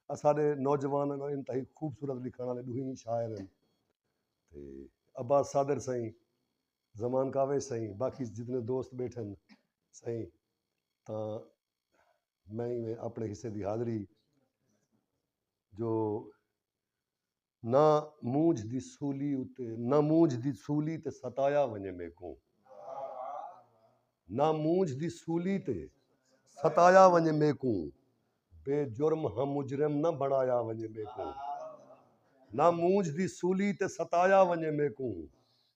اساݙے نوجوان ہن انتہائی خوبصورت لکھݨ آلے ݙوہیں شاعر ہن تے عباس صابر سئیں زمان کاوش سئیں باقی جتنے دوست ٻیٹھے ہن سئیں تاں میں اپݨے حصے دی حاضری جو نہ مونجھ دی سولی اتے نہ مونجھ دی سولی تے ستایا ونجے میکوں نہ مونجھ دی سولی تے ستایا ونجے میکوں بے جرم ہاں مجرم نہ بنایا ونجے میکوں نہ مونجھ دی سولی تے ستایا ونجے میکوں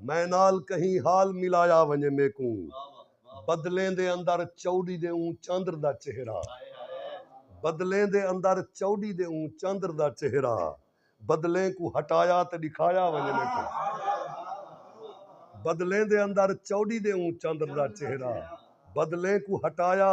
میں نال کہیں حال ملایا ونجے میکوں بدلیں دے اندر چوڈی دے اوں چندر دا چہرہ بدلیں دے اندر چوڈی دے اوں چندر دا چہرہ بدلیں کوں ہٹایا تے ڈکھایا ونجے میکوں بدلیں دے اندر چوڈی دے اوں چندر دا چہرہ بدلیں کوں ہٹایا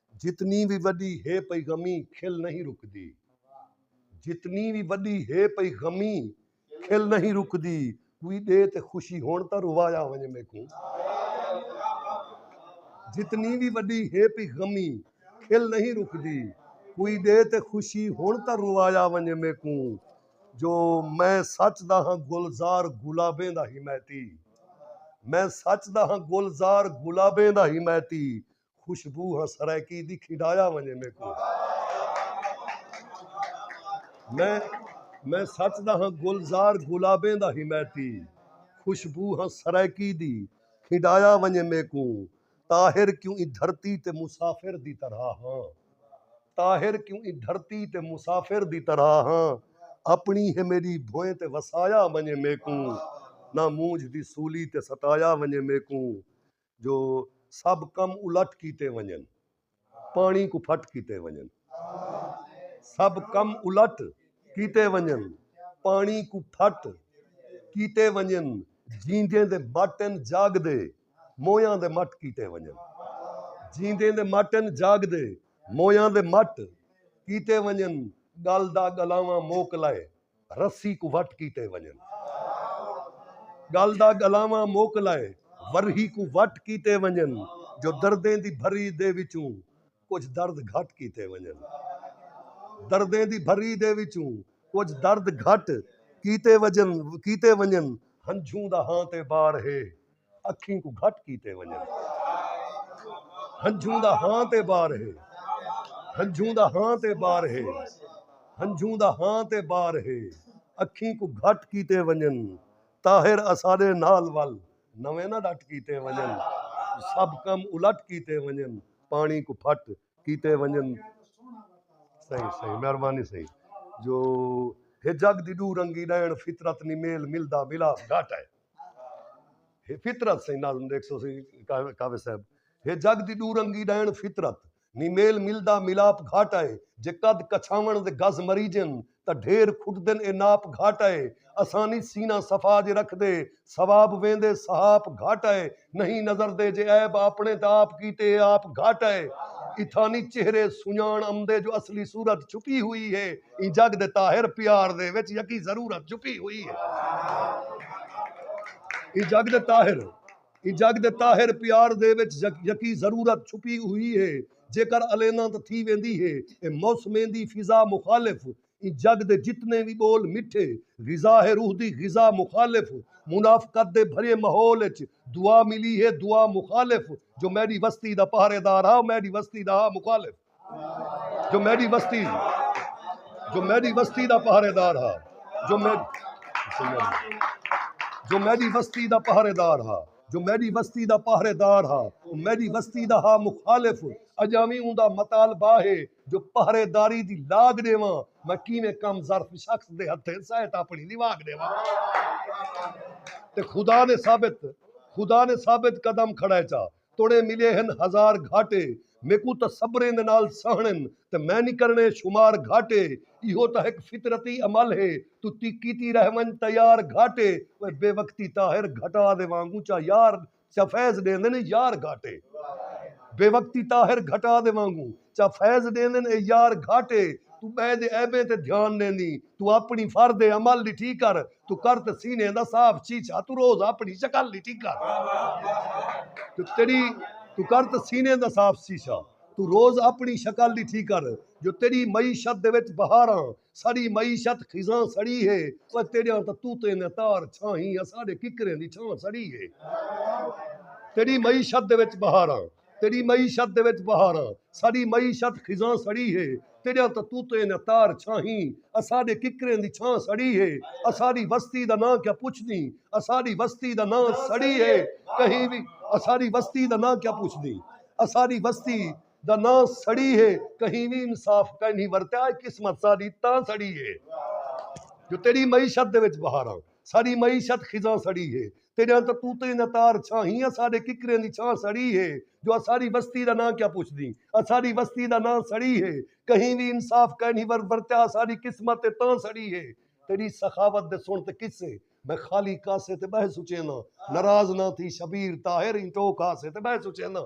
جتنی وی وڈی ہے پئی غمی کھل نہیں رکدی جتنی وی وڈی ہے پئی غمی کھل نہیں رکدی کوئی دے تے خوشی ہون تا روایا ونجے میکوں جتنی وی وڈی ہے پئی غمی کھل نہیں رکدی کوئی دے تے خوشی ہون تا روایا ونجے میکوں جو میں سچ دا ہاں گلزار گلابیں دا حمایتی میں سچ دا ہاں گلزار گلابیں دا حمایتی خوشبو ہاں سرائیکی دی کھڈایا ونجے میکوں میں میں سچ دا ہاں گلزار گلابیں دا حمایتی خوشبو ہاں سرائیکی دی کھڈایا ونجے میکوں طاہر کیوں ای دھرتی تے مسافر دی طرح ہاں طاہر کیوں ای دھرتی تے مسافر دی طرح ہاں اپنی ہے میڈی بھوئیں تے وسایا ونجے میکوں نہ مونجھ دی سولی تے ستایا ونجے میکوں جو سب کم الٹ کیتے ونجن پانی کو پھٹ کیتے ونجن سب کم الٹ کیتے ونجن پانی کو پھٹ کیتے ونجن جیندے دے ماٹن جاگ دے مویاں دے مٹ کیتے ونجن جیندے دے ماٹن جاگ دے مویاں دے مٹ کیتے ونجن گل دا گلاواں موک لائے رسی کوں وٹ کیتے ونڄن۔ ڳل دا ڳلاواں مک لائے ورہی کوں وٹ کیتے ونڄن جو دردیں دی بھری دے وچوں کجھ درد گھٹ کیتے ونڄن۔ دردیں دی بھری دے وچوں کجھ درد گھٹ کیتے وجن کیتے ونڄن ہنجھوں دا ہاں تے بار ہے۔ اکھیں کوں گھٹ کیتے ونڄن۔ ہنجھوں دا ہاں تے بار ہے۔ ہنجھوں دا ہاں تے بار ہے۔ ہنجھوں دا ہاں تے بار ہے۔ اکھیں کوں گھٹ کیتے ونڄن۔ طاہر اساݙے نال ول نویں نہ ݙٹ کیتے ونڄن۔ سب کم الٹ کیتے ونڄن۔ پاݨی کوں پھٹ کیتے ونڄن۔ سئیں سئیں مہربانی سئیں جو ہے جڳ دی ݙو رنگی ݙیݨ فطرت نی میل ملدا ملاپ گھٹ ہے۔ ہے فطرت سائیں ناظم دیکھ سو سی کاوے صاحب ہے جگ دی دو رنگی ڈائن فطرت نی میل ملدا ملاپ گھاٹا ہے جے قد کچھاون دے گز مریجن تا ڈھیر کھٹدن اے ناپ گھاٹا ہے اسانی سینہ صفا جے رکھ دے ثواب ویندے سہاپ گھاٹا ہے نہیں نظر دے جے عیب آپݨے تاں آپ کیتے اے آپ گھٹ اے اتھانی چہرے سنڄاݨ امدے جو اصلی صورت چھپی ہوئی اے ایں جڳ دے طاہر پیار دے وچ یکی ضرورت چھپی ہوئی اے ایں جڳ دے طاہر ایں جڳ دے طاہر پیار دے وچ یکی ضرورت چھپی ہوئی اے جیکر الینداں تاں تھی ویندی اے اے موسمیں دی فضا مخالف ایں جڳ دے جتنے وی ٻول مٹھے غذا ہے روح دی غذا مخالف منافقت دے بھریے ماحول اچ دعا ملی ہے دعا مخالف جو میݙی وستی دا پہرے دار ہا او میݙی وستی دا ہا مخالف جو میݙی وستی جو میݙی وستی دا پہرے دار ہا جو میݙی جو میݙی وستی دا پہرے دار ہا۔ جو میݙی وستی دا پہرے دار ہا او میݙی وستی دا ہا مخالف اڄاں وی اوندا مطالبہ ہے جو پہرے داری دی لاگ ݙیواں میں کیویں کم ظرف شخص دے ہتھیں سہت آپݨی لیواگ ݙیواں تے خدا نے ثابت خدا نے ثابت قدم کھڑائے چا توڑیں ملے ہن ہزار گھاٹے میکوں تاں صبریں دے نال سہنڑن تے میں نی کرنڑیں شمار گھاٹے ایہو تاں ہک فطرتی عمل ہے توں تی کیتی رہ ونج تیار گھاٹے اوئے بے وقتی طاہر گھٹا دے وانگوں چا یار چا فیض ڈیندن اے یار گھاٹے بے وقتی طاہر گھٹا دے وانگوں چا فیض ڈیندن اے یار گھاٹے توں بئے دے عیبیں تے دھیان ڈیندیں توں اپݨی فرد عمل ݙٹھی کر توں کر تے سینے دا صاف شیشہ توں روز اپݨی شکل ݙٹھی کر جو تیݙی توں کر تے سینے دا صاف شیشہ توں روز اپݨی شکل ݙٹھی کر جو تیݙی معیشت دے وچ بہاراں سڑی معیشت خزاں سڑی ہے اوئے تیݙیاں تاں طوطیں دیاں تار چھاہیں اساݙے ککریں دی چھاں سڑی ہے تیݙی معیشت دے وچ بہاراں تیݙی معیشت دے وچ بہاراں ساݙی معیشت خزاں سڑی ہے تیݙیاں تتوتیں نہ تار چھاہیں اساݙے ککریں دی چھاں سڑی ہے اساݙی وستی دا ناں کیا پچھدیں اساݙی وستی دا ناں سڑی ہے کہیں وی اساݙی وستی دا ناں کیا پچھدیں اساݙی وستی دا ناں سڑی ہے کہیں وی انصاف کائنی ورتیا اے قسمت ساݙی تاں سڑی ہے جو تیݙی معیشت دے وچ بہاراں ساݙی معیشت خزاں سڑی ہے تیݙیاں کرتوتیں دا تار چھاہیں اساݙے ککریاں دی چھاں سڑی ہے جو اساݙی وستی دا ناں کیا پچھدیں اساݙی وستی دا ناں سڑی ہے کہیں وی انصاف کائنی ور ورتیا اساݙی قسمت تے تاں سڑی ہے تیݙی سخاوت دے سݨ تے قصے میں خالی کاسے تے ٻہہ سچینداں ناراض نہ تھی شبیر طاہر ایں ٹوک ہاسے تے ٻہہ سچینداں۔